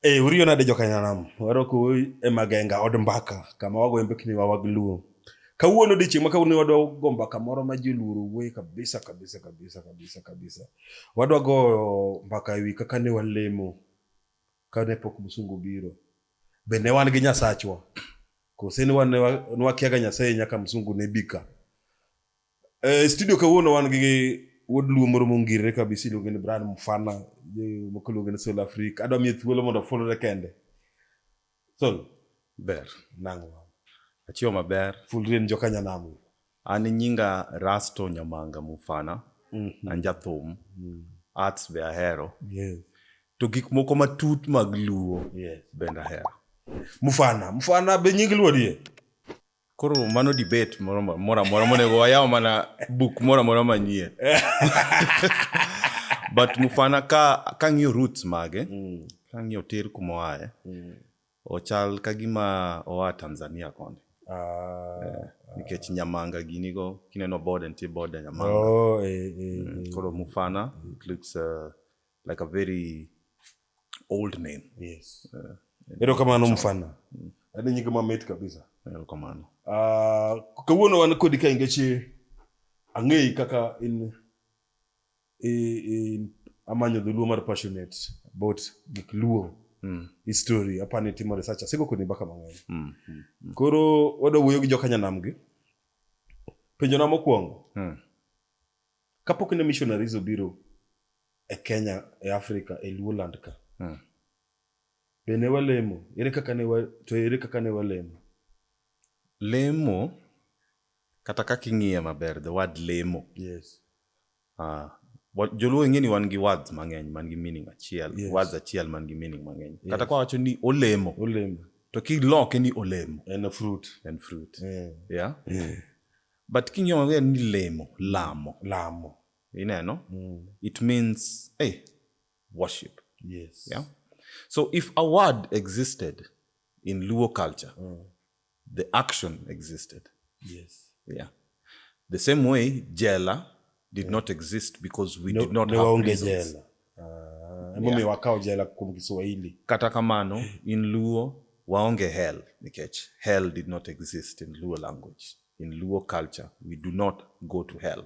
Hey, eh, uriyo nade jokanyanam warokou e magenga od mbaka kama wagoyo mbekni wa wag luo kawuono odiechieng' ma kawuono wadwa go mbaka moro ma joluoro wuoye kabisa kabisa kabisa kabisa kabisa wadwa goyo mbaka ewi kaka ne walemo kane pok msungu biro. Be ne wan gi Nyasachwa? Kose ne wakiaga Nyasaye nyaka msungu ne bika? E, studio kawuono wan gi wuod luo moro mongirre kabisa iluonge ni Brian Mfana moko iluonge ni Soul Africa. Adwa miye thuolo mondo ofulre kende. Soul. Ber. Nang'o? Achiwo maber. Fulri en joka nyanam. An nyinga Rasto Nyamanga Mufana, mm -hmm. an jathum, mm -hmm. arts be ahero. Yes. To gik moko matut mag luo yes. bende ahero. Mufana, Mufana be nying luo die? Koro mano debate moro mora mora monego wayaw mana book mora mora manyie. But Mufana ka ka ng'iyo roots mage, mm. ka ng'iyo tir kuma oaye, mm. Ochal ka gima oa Tanzania koni. Ah, eh, nikech nyamanga gini go kineno bode nitie bode nyamanga oh, eh, eh, mm, eh, koro mufana eh. it looks uh, like a very old name yes uh, ero kamano mufana mm. ade nyinge mamit kabisa ero kamano uh, kawuono wan kodi ka ingeche ang'eyi kaka in e, e, amanyo dholuo mar passionate about gik luo mm. history apani timo research asego koni baka mang'eny mm. mm. mm. koro wadwa wuoyo gi jokanyanam gi penjona mokwongo mm. kapok ne missionaries obiro e kenya e africa e luoland ka mm. be ne walemo ere kaka ne wa, to ere kaka ne walemo lemo Kata kaka ing'iye maber, the word lemo. Yes. Uh, joluo ing'e ni wan gi words mang'eny man gi meaning achiel yes. words achiel man gi meaning mang'eny yes. kata kwawacho ni olemo olemo to kiloke ni olemo en a fruit en fruit yeah. Yeah? Yeah. but king'iyo maber ni lemo lamo lamo ineno mm. it means hey, worship yes. yeah? so if a word existed in luo culture mm. the action existed. Yes. Yeah. The same way jela did not exist because we did not have prisons. Jela. Uh, yeah. wakao jela kum Kiswahili. Kata kamano in Luo waonge hell nikech hell did not exist in Luo language. In Luo culture we do not go to hell.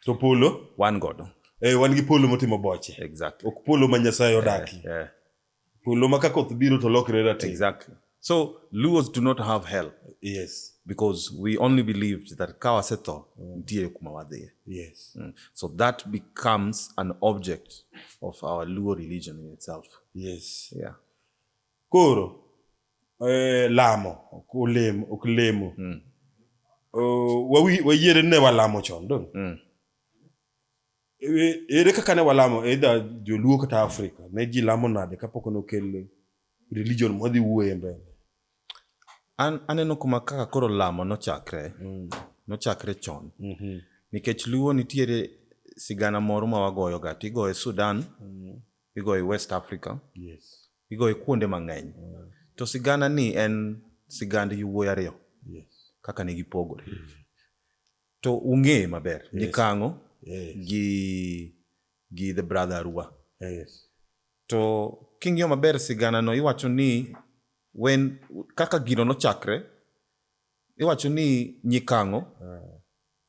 To polo wan godo. Eh, wan gi polo motimo boche. Exactly. Ok polo ma Nyasaye odaki. Eh, eh. Polo ma ka koth biro to lokre rateng'. Exactly. So Luos do not have hell. Yes. Because we only believed that ka wasetho mm. nitie kuma wadhiye. Yes. Mm. So that becomes an object of our Luo religion in itself. Yes. Yeah. Koro eh, lamo ok olemo ok lemo. Mm. Uh, wayiere ne walamo chon dong. Mm. E, ere kaka ne walamo either joluo kata afrika ne ji lamo nade kapok nokel religion mwadhi wuoye mbele an aneno kuma kaka koro lamo nochakre mm. nochakre chon mm -hmm. nikech luo nitiere sigana moro ma wagoyo ga tigoye sudan mm. igoye west africa yes. igoye kuonde mang'eny mm. to sigana ni en sigand yowuoyi ariyo yes. kaka ne gipogore mm. To ung'eye maber yes. nikang'o yes. gi, gi the brother Arua. Yes. To king'iyo maber sigana no iwacho ni when kaka gino nochakre iwacho ni nyikang'o uh.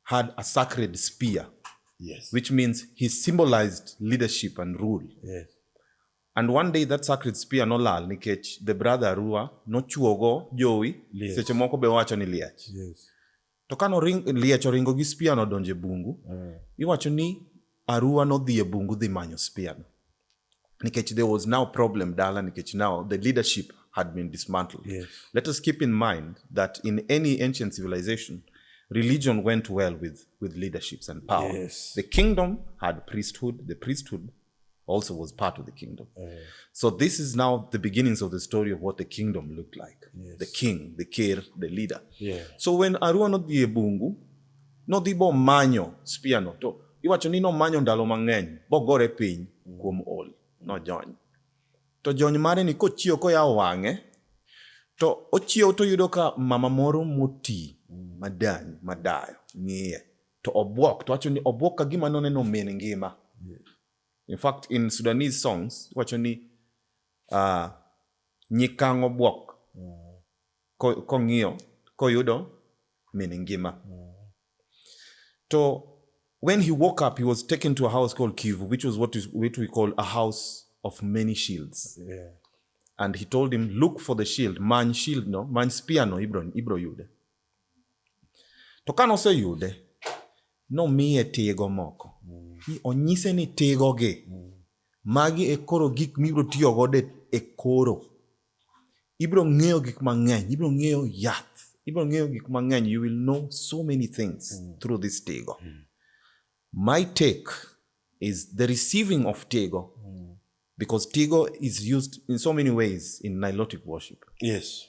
had a sacred spear yes. which means he symbolized leadership and rule yes. and one day that sacred spear nolal nikech the brother Arua nochuogo jowi yes. seche moko be wacho ni liach yes. to ka liech oringo gi spiano odonjo e bungu mm. iwacho ni arua nodhi e bungu dhi manyo spiano nikech there was now problem dala nikech now the leadership had been dismantled yes. let us keep in mind that in any ancient civilization religion went well with, with leaderships and power yes. the kingdom had priesthood the priesthood also was part of the kingdom. Oh, yeah. So this is now the beginnings of the story of what the kingdom looked like. Yes. The king, the kir, the leader. Yeah. So when Arua nodhi e bungu, nodhi bo manyo spear no to iwacho ni nomanyo ndalo mang'eny bogore piny mm. kuom ol nojony. To jony mare ni kochiewo koyawo wang'e to ochiewo toyudo ka mama moro moti mm. madany madayo ng'iye to obwok to wacho ni obwok ka gima noneno min ngima yeah. in fact in sudanese songs wacho ni uh, ah, nyikang' obwok yeah. kong'iyo ko koyudo min ngima yeah. to when he woke up he was taken to a house called kivu which was what, is, what we call a house of many shields yeah. and he told him look for the shield man shield no man spear no ibro, ibro yude to ka noseyude nomiye tigo moko mm. onyise ni tigogi mm. magi e koro gik mibiro tiyo godo e koro ibiro ng'eyo gik mang'eny ibiro ng'eyo yath ibiro ng'eyo gik mang'eny you will know so many things mm. through this tigo mm. my take is the receiving of tigo mm. because tigo is used in so many ways in nilotic worship yes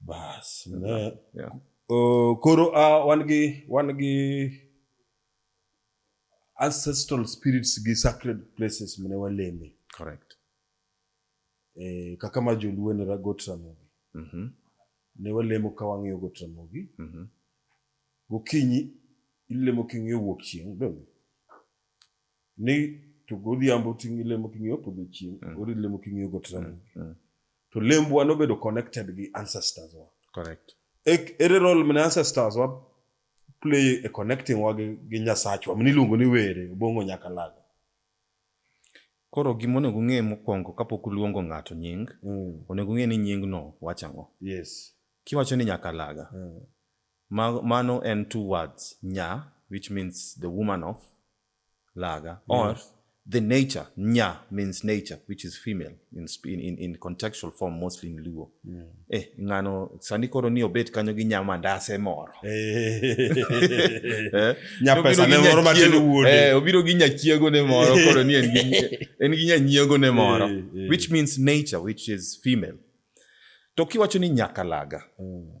bas ne Yeah. Oh, koro ah, wan gi wan gi ancestral spirits gi sacred places mane waleme Correct. eh, kaka ma joluo ne ragot ramogi Mhm. ne walemo ka wang'iyo got ramogi Mhm. gokinyi ilemo king'iyo wuok chieng' donge ni to godhiambo ting'i lemo king'iyo podho chieng' mm. ori lemo king'iyo got mm, ramogi mm. to lembwa nobedo connected gi ancestors wa correct e, ere role mane ancestors wa play e connecting wa gi, gi nyasachwa mane iluongo ni were obongo nyaka lago koro gima onego ung'e mokwongo kapok uluongo ng'ato nying mm. onego ung'e ni nyingno wacho ang'o yes kiwacho ni nyakalaga mm. Ma, mano en two words, nya, which means the woman of Laga, or yes. the nature, nya means nature, which is female in, in, in contextual form, mostly in Luo. Mm. Eh, ngano, sani koro ni obet kanyo gi nya mandase moro. Eh. eh? Nya pesa ne moro matin wuode. Eh, obiro gi nya chiego ne moro, koro ni en gi nya nyiego ne moro, eh, eh. which means nature, which is female. To kiwacho ni nyakalaga, mm.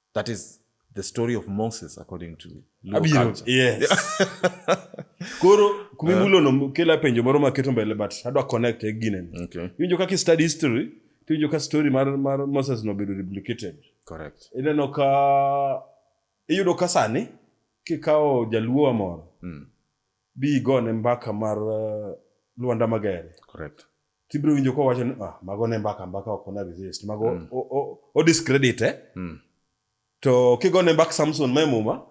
That is the story of Moses according to Abiro, yes. Koro kumimulo uh, no kela penjo moro maketo mbele but adwa connect e gine. Okay. Iwinjo kaka study history tiwinjo ka story mar, mar Moses no bedo replicated. Correct. Ineno ka iyudo ka sani kikawo jaluo moro mm. bi igone mbaka mar uh, Luanda Magere. Correct. Tibiro winjo ko wacho ni ah mago ne mbaka mbaka ok ona resist. Mago mm. o, o, o discredit eh. Mm. To kigone mbak Samson ma muma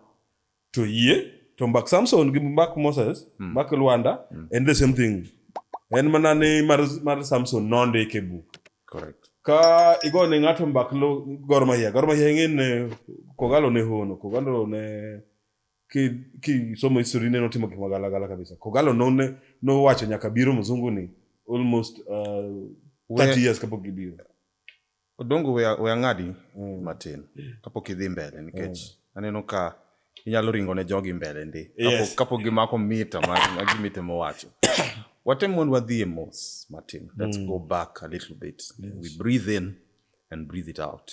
to yie to mbak Samson gi mbak Moses, mm. mbak Luanda mm. and the same thing. En mana ni mar, mar Samson nondike buk. Correct. Ka igone ng'ato mbak lo Gor Mahia. Gor Mahia ng'e ne Kogalo ne hono, Kogalo ne ki kisomo history ne notimo gik magalagala kabisa kogalo none nowacho nyaka biro mzungu ni almost uh, 30 We- years kapok gibiro odongo we we ang'adi Mm. matin kapok idhi mbele nikech aneno ka inyalo ringo ne jogi mbele ndi Yes. Kapok- kapok gimako mita ma- ma gimite mowacho watem mondo wadhi e mos matin let's go back a little bit we breathe in and breathe it out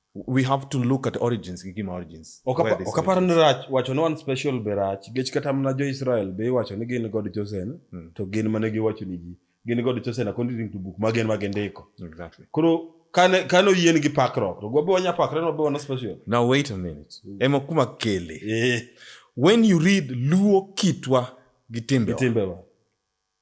we have to look at origins gi gima origins ok aparo ni rach wacho ni one special be rach nikech kata mana jo israel be iwacho ni gin god chosen hmm. to gin mane giwacho ni ji gin god chosen according to book magen ma gindiko exactly. koro kane kane oyien gi pakruok to gwabe wanya pakre no be wana special now wait a minute mm. ema kuma kele eh. when you read luo kitwa gi timbewa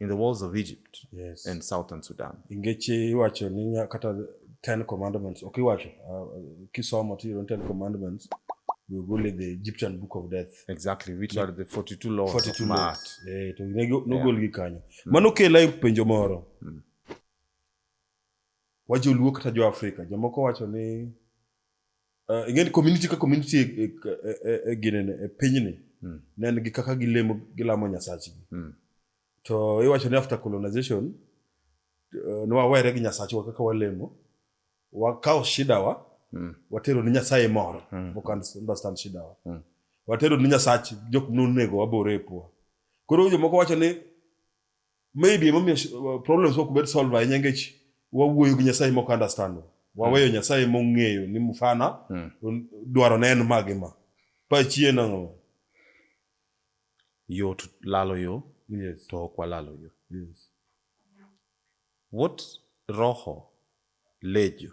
in the walls of Egypt yes. and southern Sudan. Ingechi iwacho ni kata Ten Commandments, okay, iwacho uh, kisomo to you Ten Commandments, we go to the Egyptian Book of Death. Exactly, which yeah. are the 42 laws 42 of Maat. Eh, to nego no gol gi kanyo. Mm. Mano kela penjo moro. Mm. Wajo luo kata jo Afrika, jomoko wacho ni Eh, ngeen community ka community e, e, e, ginene e pinyni mm. ne en gi kaka gilemo gilamo nyasachgi mm. to iwacho ni after colonization eh, ne wawere gi nyasachwa kaka walemo wakawo shidawa mm. watero ni nyasaye moro mm. okan understand shidawa mm. watero ni nyasach jok nonego wabore e pua koro jomoko wacho ni maybe emomiyo uh, problems mok bed solve ahinya ngech wawuoyo gi nyasaye mok understand waweyo mm. nyasaye mong'eyo ni mfana mm. dwaro ne en magi ma pachie nang'o yo to lalo yo yes. to ok walalo yo yes. what roho lejo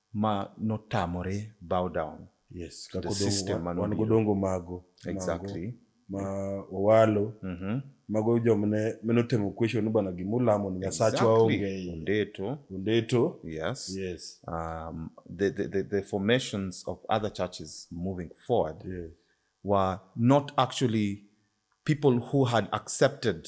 ma notamore bow down yes to the system man wan godongo mago exactly ma owalo mm -hmm. mago jomne meno temo question bana gima ulamo ni nyasachwa onge ondeto ondeto yes yes um the, the the the formations of other churches moving forward yes. were not actually people who had accepted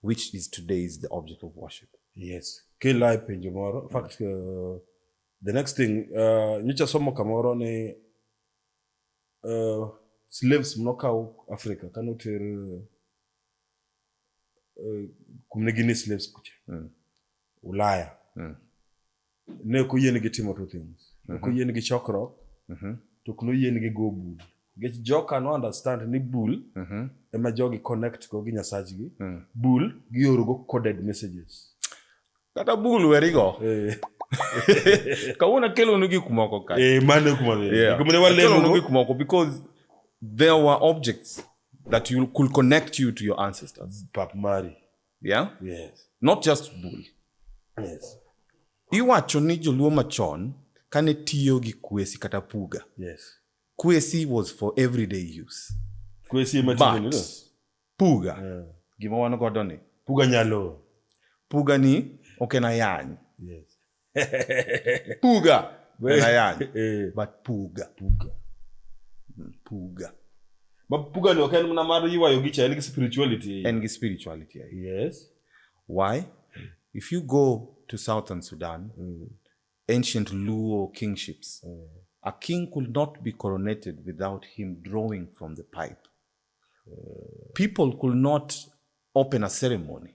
which is today is the object of worship. Yes. Kila penjo moro. In fact, uh, the next thing, uh, nyicha somo kamoro ni uh, slaves mnokaw Africa kano ter uh, kumne gini slaves kucha. Mm. Ulaya. Mm. Ne ok oyienigi timo two things. Ne ok mhm. oyienigi chokruok, mhm. to ok noyienigi go bul. Nikech joka no understand ni bul mhm. ema jogi connect go gi nyasachgi. Mm. Bul giorogo coded messages. Kata bul werigo. Eh. Kawuono akelonu gik moko ka. Eh, mano kuma. Yeah. Akelonu gik moko because there were objects that you could connect you to your ancestors. Pap Mari. Yeah? Yes. Not just bull. Yes. Iwacho ni joluo machon kane tiyo gi kwesi kata puga. Yes. Kwesi was for everyday use. Kwesi ema tiyo But, puga. Yeah. Gima wan godo ni. Puga nyalo. Puga ni ok en ayany. Yes. puga na yani eh. but puga puga hmm, puga ma puga ni okay mna mara yiwa yogi cha ni spirituality and gi spirituality yes why if you go to southern sudan mm. ancient luo kingships mm. a king could not be coronated without him drawing from the pipe mm. people could not open a ceremony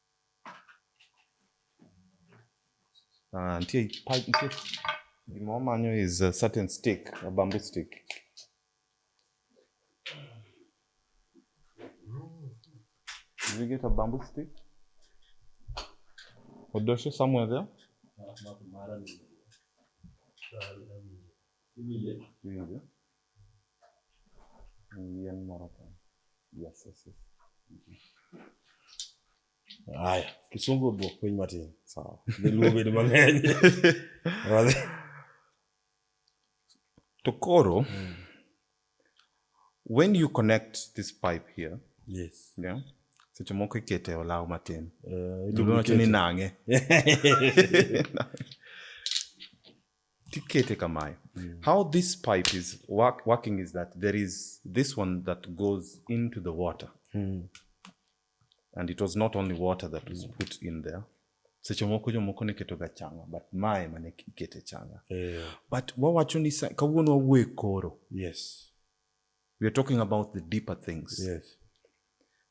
Ah, nitie pa- nitie gima wamanyo is a certain stick, a bamboo stick. Did we get a bamboo stick? Odosho somewhere there? Hivi ndio. Yien moro ka. Yes, yes, yes. Haya, kisungu dwok piny matin. Sawa. Dholuo bedo mang'eny. To koro, mm. when you connect this pipe here, yes. yeah, seche moko ikete e olaw matin. Uh, eh, Iluongo ni nang'e. tikete kamayo mm. how this pipe is work, working is that there is this one that goes into the water mm. and it was not only water that was mm. put in there seche moko jomoko ne ketoga changa but mae mane ikete changa yeah. but wawacho ni kawuono wawuoye koro yes we are talking about the deeper things. Yes.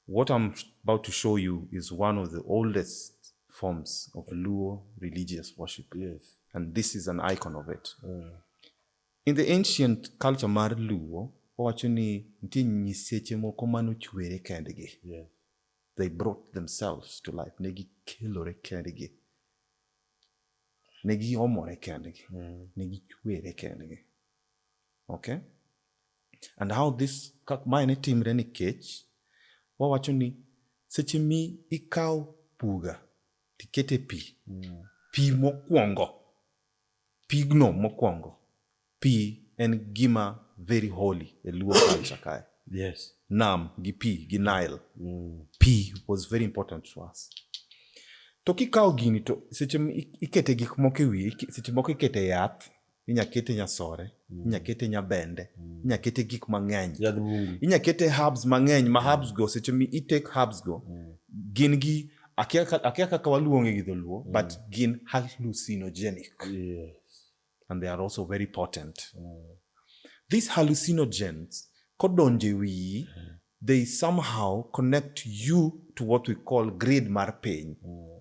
What I'm about to show you is one of the oldest forms of Luo religious worship. Yes. And this is an icon of it. Mm. In the ancient culture mar Luo, owacho ni nitie nyiseche moko mane ochwere kendgi. Yes. They brought themselves to life. Ne gikelore kendgi. Ne giomore kendgi. Mm. Ne gichwere kendgi. Okay? And how this, mae ne timre nikech wawacho ni seche mi ikawo puga tikete pi mm. pi mokwongo pigno mokwongo pi en gima very holy e luo culture kae yes. nam gi pi gi nile mm. pi was very important to us to kikawo gini to seche ikete gik moko e wiye seche moko ikete yath inya kete nyasore mm. inya kete nyabende mm. inya kete gik mang'eny inya kete herbs mang'eny ma mm. herbs go seche mi i take herbs go mm. gin gi akia kaka waluonge gi dholuo mm. but gin hallucinogenic yes. and they are also very potent mm. these hallucinogens kodonje wiyi mm. they somehow connect you to what we call grade mar piny mm.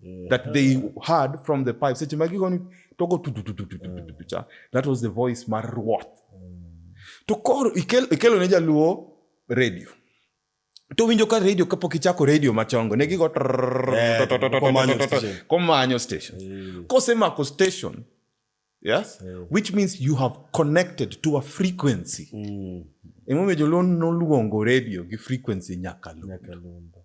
mm. that they heard from the pipe seche magigoni togo tutututututututucha that was the voice mar ruoth to koro ikelo ne jaluo radio to winjo ka radio kapok ichako radio machongo ne gigo komanyo station kosemako station yes which means you have connected to a frequency mm. emomiyo joluo noluongo radio gi frequency nyakalundo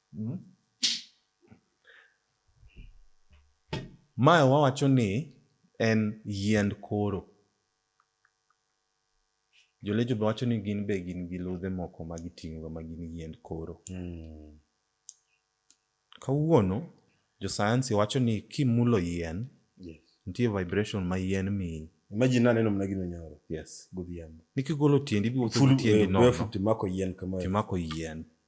Hmm? Mae wawacho ni en yiend koro. Jolecho be wacho ni gin be gin gi ludhe moko ma giting'oga ma gin yiend koro. Hmm. Kawuono josayansi wacho ni kimulo yien, yes. nitie vibration ma yien miyi. Imagine naneno mana gino nyoro. Yes. Godhiambo. Nikigolo tiendi biwuotho tiendi eh, nono. Timako yien kama. Timako yien.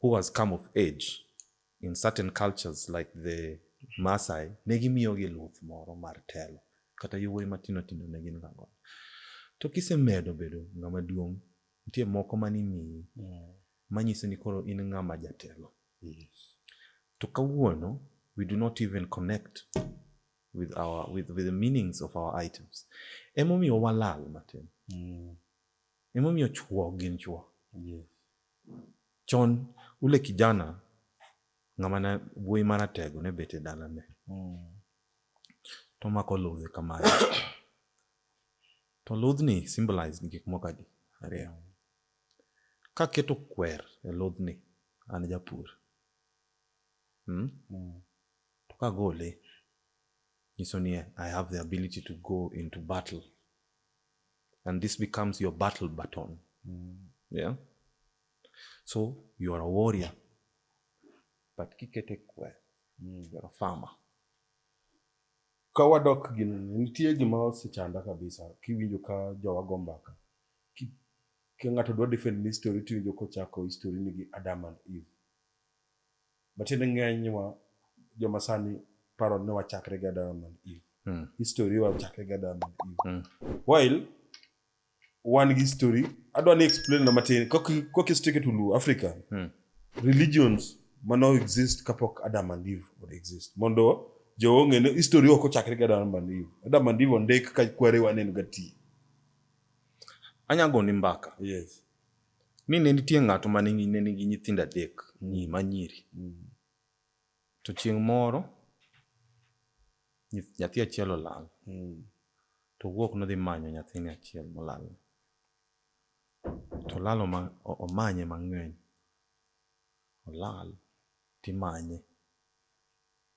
who has come of age in certain cultures like the Masai ne gimiyogi luth moro mar telo kata yowuoyi matindo tindo ne gin gago to kisemedo bedo ng'ama duong' nitie moko mane imiyi mm. manyiso ni koro in ng'ama jatelo to kawuono we do not even connect with our with, with the meanings of our items emomiyo walal matin mm. Emomiyo chwo gin chwo. Yes. Chon ule kijana ng'ama ne wuoyi maratego ne bet e dalane. Mm. To mako ludhe kamae. to ludhni symbolize ni gik moko adi ariyo. Mm. Kaketo kwer e ludhni an japur. Hmm? Mm. To kagole nyiso ni I have the ability to go into battle. and this becomes your battle baton mm. yeah so you are a warrior but kikete kwer mm. you are a farmer ka wadok gino nitie gima osechanda kabisa kiwinjo ka jowa go mbaka ka ng'ato dwa defend ni story tiwinjo kochako history ni gi Adam and Eve Matiende ng'eny wa joma sani paro ni wachakre gi Adam and Eve. Mm. History wachakre gi Adam and Eve. Mm. While wan gi history, adwa ni explain na matin kok kok history ketu lu Africa. Mm. Religions mano exist kapok Adam and Eve would exist. Mondo jo ong'e ni history ok ochakre gi Adam and Eve. Adam and Eve ondik ka kwere waneno gati. Anya goni mbaka. Yes. ni ne nitie ng'ato ma ne nigi nyithindo adek nyi mm. manyiri mm. to chieng' moro nyathi achiel olal mm. to wuok nodhi manyo nyathini achiel molal to olal omanye mang'eny olal timanye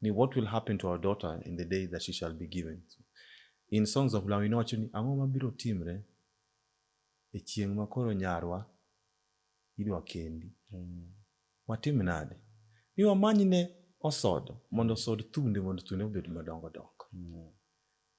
ni what will happen to our daughter in the day that she shall be given. So, in Songs of Law inowacho ni ang'o mabiro timre e chieng' ma koro nyarwa idwa kendi. Mm. Watim nade? Ni wamanyne osodo mondo osod thunde mondo thunde obed madongo dongo. Mm.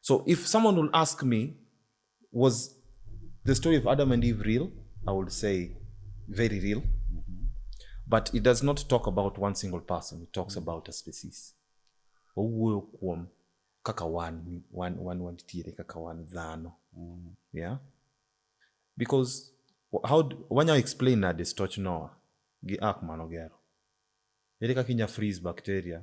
So if someone will ask me, was the story of Adam and Eve real? I would say very real. Mm-hmm. But it does not talk about one single person. It talks mm-hmm. about a species. Owuoyo kuom kaka wan wan wan wantiere kaka wan dhano. Mm-hmm. Yeah. Because how wanya explain na destoch Noah gi ark manogero. Ere kaka inya freeze bacteria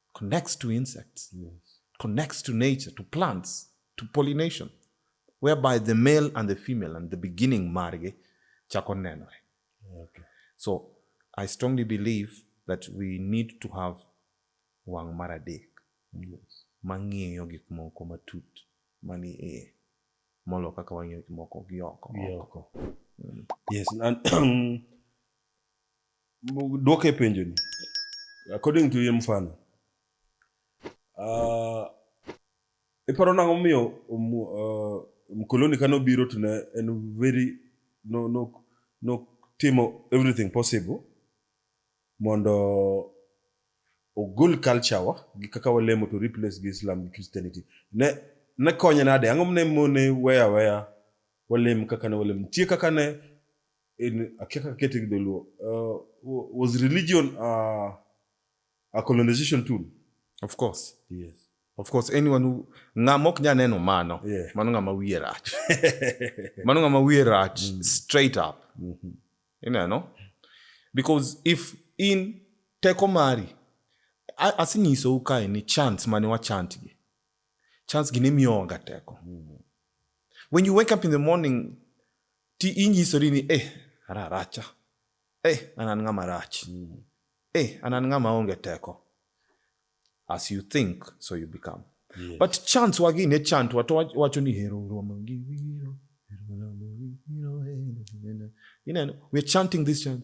connects to insects, yes. connects to nature, to plants, to pollination, whereby the male and the female and the beginning marge chako nenore. Okay. So I strongly believe that we need to have wang' mar adek yes. mang'iyo gik moko matut mani iye molo kaka wang'iyo gik moko gi oko. Yes, and Dwoke penjo ni. According to him fan. Uh, iparo nang'o miyo um, uh, mkoloni kane obiro to ne en very no, no, no timo everything possible mondo ogol culture wa gi kaka walemo to replace gi Islam gi Christianity. Ne ne konye nade? Ang'o mne mone weya weya walem kaka ne walem? Nitie kaka ne in a kaka kete gi dholuo uh, wa- was religion uh, a colonization tool of course yes of course anyone who ng'ama ok nya neno mano Yeah. mano ng'ama wiye rach mano ng'ama wiye rach straight up ineno because if in teko mari a- asenyisou kae ni chant mane wachantgi chance gi ne miyowaga teko mm. when you wake up in the morning ti inyisori ni eh ara aracha eh an an ng'ama rach mm. eh an an ng'ama onge teko as you think so you become yes. but chance wagi ne chant wato wacho ni hero romo gi wiro you know we're chanting this chant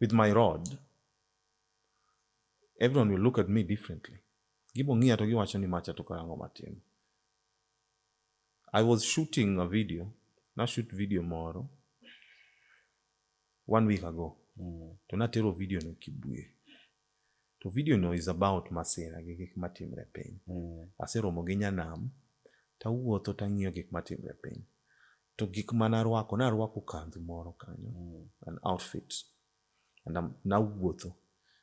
with my rod, everyone will look at me differently. Gibo ng'iya to giwacho ni macha to karango matin. I was shooting a video, na shoot video moro one week ago. Mm. To natero video no Kibuye. to video no is about masira gi gik matimre e piny mm. aseromo gi nyanam tawuotho tang'iyo gik matimre e piny to gik manarwako narwako kandhu moro kanyo mm. an outfit nawuotho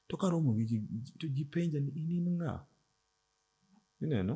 to karomo gi to ji penja ni in in ng'a ineno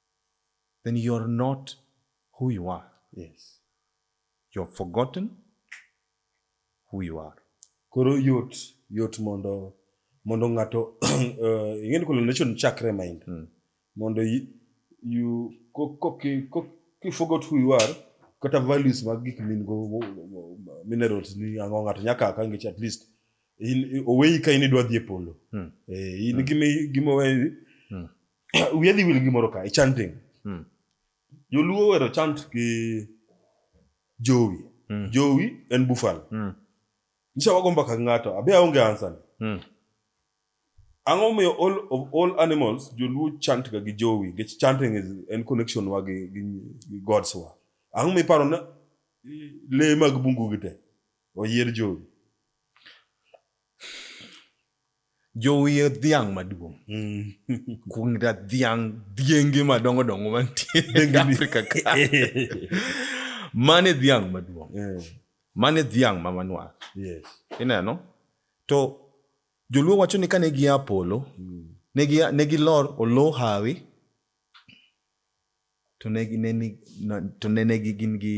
then you're not who you are. Yes. You're forgotten who you are. Koro yot yot mondo mondo ng'ato eh, ing'eni kolo nation chakre mind mm. mondo you, you koki koki you forgot who you are kata values mag gik min go minerals ni ang'o ng'ato nyaka akangech at least oweyi ka in idwa dhi e polo mm. eh, in mm. gima gima oweyi mm. wiya dhi wil gimoro ka e chanting Mm. joluo wero chant gi jowi Mm. jowi en bufalo Mm. nyicha wago mbaka gi ng'ato abe aonge ansani Mm. ang'o momiyo all of all animals joluo chant ga gi jowi nikech chanting is en connection wa gi, gi, gi gods wa ang'o momiyo iparo na i- lee mag bungu gi te oyier jowi Jowiye dhiang' maduong'. Mm. Kuong da dhiang' dhienge madongo dongo mantie e Afrika ka. Mane dhiang' maduong'. Yeah. Mane dhiang' ma manwar. Yes. Ineno? To joluo wacho ni kane gia polo, mm. ne gi ne gilor olo hawi to ne ne to ne ne gin gi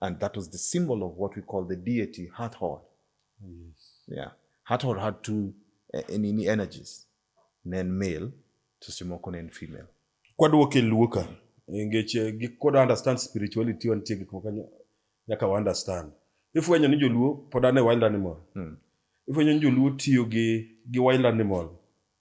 And that was the symbol of what we call the deity Hathor. Yes. Yeah. Hathor had two uh, energies, nen male to Simoko nen female. Kwadwoke luoka engech eh, gik kod understand spirituality wantie gik moko nyaka wa understand. Ifwenyo ni joluo pod ane wild animal. Mm. Ifwenyo ni joluo tiyo gi gi wild animal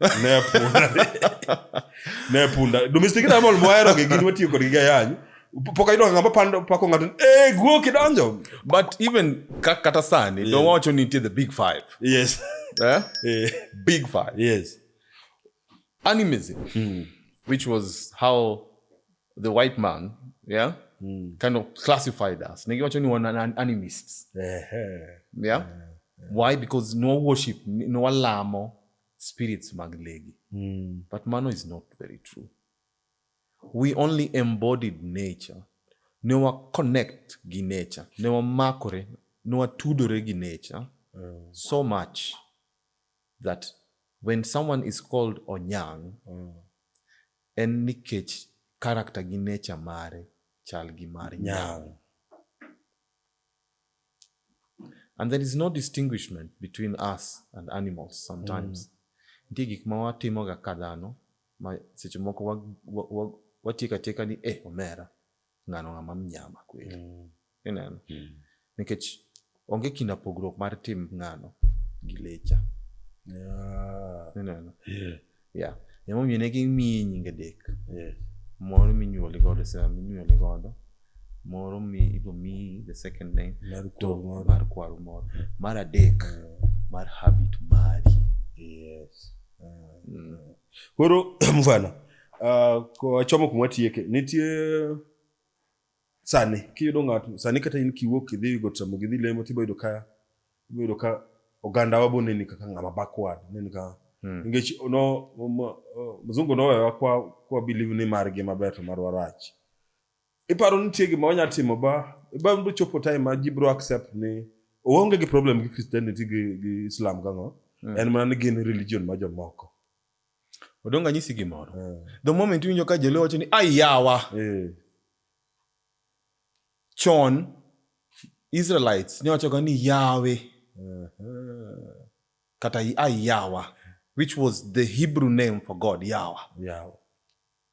ne punda ne punda domestic na mol moero gi gin watiyo kod gi gayany pok ayudo ng'ama pando pako ng'ato eh guo kidonjo but even ka, kata sani yeah. dowacho nitie the big five yes eh? yeah. big five yes animism mm. which was how the white man yeah mm. kind of classified us nikiwacho ni wana animists yeah. yeah. yeah. why because no worship no alamo spirits mag legi mm. but mano is not very true we only embodied nature ne wa connect gi nature ne wamakore ne watudore gi nature mm. so much that when someone is called onyang mm. en nikech character gi nature mare chal gi mar nyang And there is no distinguishment between us and animals sometimes. Nitie gik ma watimoga ka dhano ma seche moko wa- wa- wa- watieko atieka ni eh omera ng'ano ng'ama mnyama kweli. Mm. Ineno? Nikech onge kinda pogruok mar tim ng'ano gi lecha. Yeah. Ineno? Yeah. Yeah. Emomiyo ne gimiyi nyinge dek. Yes. Moro minyuoli godo e sama minyuoli godo. Moro mi ibo miyi the second name. Mar kwaru moro. Mar kwaru moro. Mar adek. Mm. Mar habit mari. Yes. Mm. Koro mfano uh, ah, kochomo kuma tieke nitie Sani kiyudo ng'ato sani kata in kiwuok kidhi go tamo gidhi lemo tibo yudo ka ibo yudo ka oganda wa bone ni kaka ng'ama backward ne ni ka hmm. ngech no mzungu no wa kwa kwa believe ni margi maber to marwa rach iparo ni tie gima wanya timo ba ba ndo chopo time ma jibro accept ni oonge gi problem gi christianity gi, gi islam gang'o mm. en mana ni gin religion ma jomoko odong anyisi gimoro eh. the moment iwinjo ka joluo wacho ni ai yawa eh. chon israelites ne wachoga ni yawe kata ai yawa which was the hebrew name for god yawa, yawa.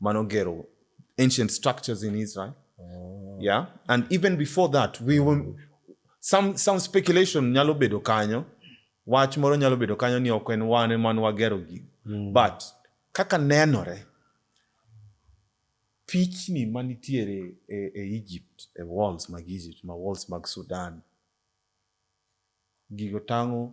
Manogero, ancient structures in Israel. Oh. Yeah. And even before that, we were, some, some speculation nyalo bedo kanyo, wach moro nyalo bedo kanyo ni ok en wan ema nwagero gigi. Mm. But kaka nenore, pichni manitiere e, e Egypt, e walls mag Egypt, ma walls mag Sudan, gigo tango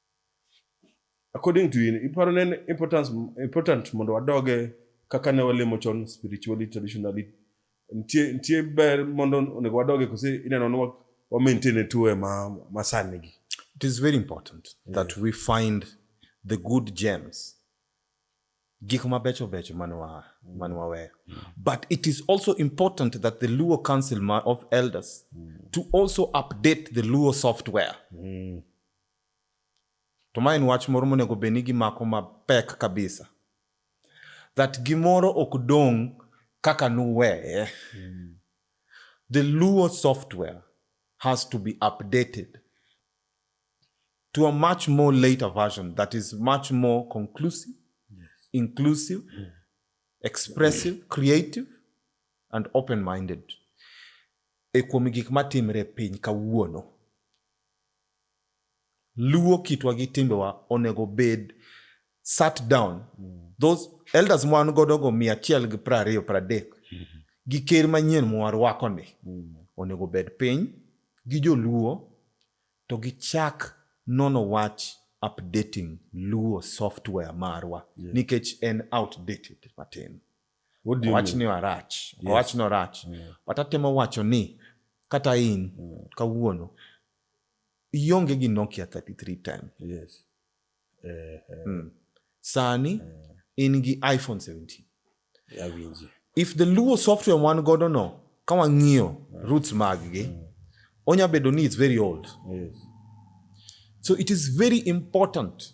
according to in iparo ne importance important mondo wadoge kaka ne walemo chon spiritually traditionally nitie nitie ber mondo onego wadoge kose ineno ni wa maintain e tuwe ma ma sani gi it is very important yeah. that we find the good gems gik mabecho becho man wa man waweyo mm. but it is also important that the luo council of elders mm. to also update the luo software mm. To ma en wach moro monego bed ni gimako mapek kabisa. That gimoro ok dong' kaka nuweye. Mm. The Luo software has to be updated to a much more later version that is much more conclusive, yes. inclusive, hmm. expressive, creative, and open minded. E kuom gik matimre piny kawuono. Luo kitwa gi timbewa onego bed sat down mm. those elders mwan godo go mia achiel gi pra ariyo pra dek mm -hmm. gi ker manyien mwarwako ni mm. onego bed piny gi joluo to gi chak nono wach updating luo software marwa yeah. nikech en outdated matin owach ni warach yes. owach ni orach yeah. but atemo wacho ni kata in yeah. kawuono ionge gi nokia 33 ten yes. eh, eh. Mm. sani eh. in gi iphone 17 yeah, if the luo software wan godo no ka wang'iyo yeah. roots mag gi yeah. Mm. onya bedo ni it's very old yes. so it is very important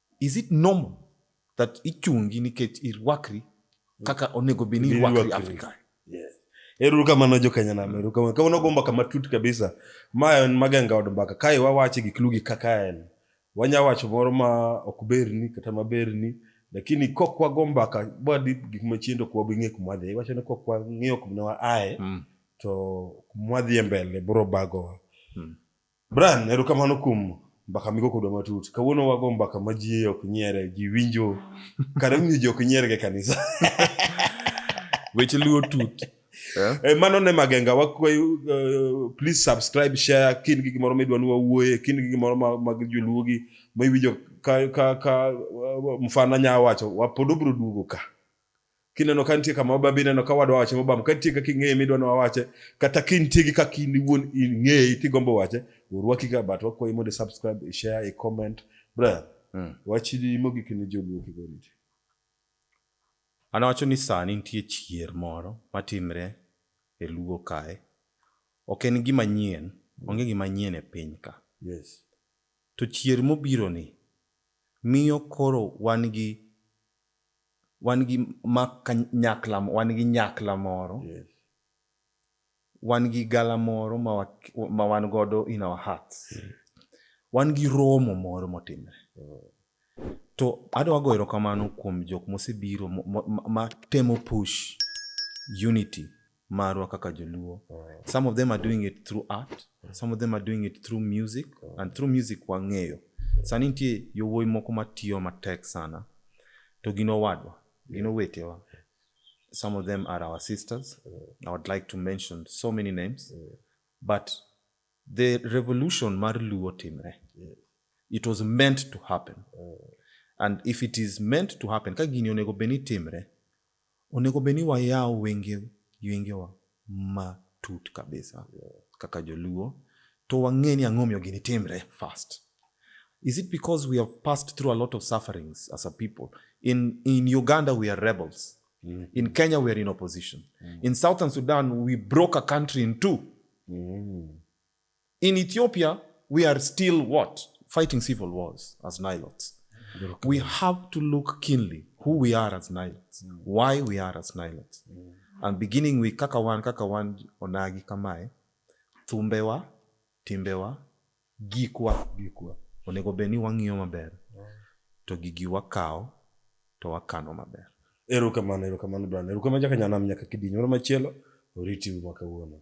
Is it normal that ichungi nikech irwakri kaka onego bed ni irwakri Afrika? Yes. Ero kamano jokenya nam, ero kamano. Kawuono go mbaka matut kabisa. Ma en magenga od mbaka. Kae wawache gik lugi kaka en. Wanya wacho moro ma ok berni kata ma berni. Lakini kok wago mbaka bwadi gik machiendo kwa bing'e kuma dhi. Wacho ni kok wang'iyo kuma aye. Mm. To kuma dhi mbele bro bago. Mm. Brian, erokamano kuom mbaka migo kodwa matut. Kawuono wago mbaka ma ji ok nyiere, ji winjo. Kare winjo ji ok nyierga e kanisa. Weche luo tut. Yeah. Eh, mano ne magenga wakwayo uh, please subscribe share kin gi gimoro midwa ni wawuoye kin gi gimoro mag joluo gi ma iwinjo ka ka ka uh, mfana nya wacho wapod obro duogo ka kineno ka nitie kama wabambi ineno ka wadwa wache mobam ka nitie kaka ing'eye midwa ni wawache kata ka nitie gi kaka in iwuon ing'eye tigombo wache orwaki ga but wakwayi mondo subscribe ishare icomment brother mm. wachidi mogik ni joluo kik oriti an awacho ni sani nitie chier moro matimre e luo kae ok en gima nyien onge gima nyien e piny ka yes. to chier mobironi miyo koro wan gi wan gi ma kanyakla wan gi nyakla moro yes. wan gi gala moro ma, wa, ma wan godo in our hearts yes. wan gi romo moro motimre oh. to adwa go erokamano kuom jok mosebiro matemo ma, ma push unity marwa kaka joluo some of them are doing it through art some of them are doing it through music and through music wang'eyo sani nitie yowuoyi moko matiyo matek sana to gin owadwa gin owetewa some of them are our sisters i would like to mention so many names but the revolution mar luo timre it was meant to happen and if it is meant to happen ka gini onego bed ni timre Onego bed ni wayawo wengewa matut kabisa kaka joluo to wang'e ni ang'o omiyo gini timre first. Is it because we have passed through a lot of sufferings as a people? In, in Uganda we are rebels. Mm. In Kenya we are in opposition. Mm. In Southern Sudan we broke a country in two. Mm. In Ethiopia, we are still what? Fighting civil wars as Nilots. We have to look keenly who we are as Nilots, mm. why we are as Nilots. Mm. And beginning with Kakawan, Kakawan, Onagi, Kamae, Thumbewa, Timbewa, Gikwa, Gikwa. Onego beni wang'iyo maber. Mm. To gigi wakawo to wakano maber. Erokamano, erokamano Brian. Erokamano jaka nyanam nyaka kidinyo. Moro machielo, oriti mwaka wuono.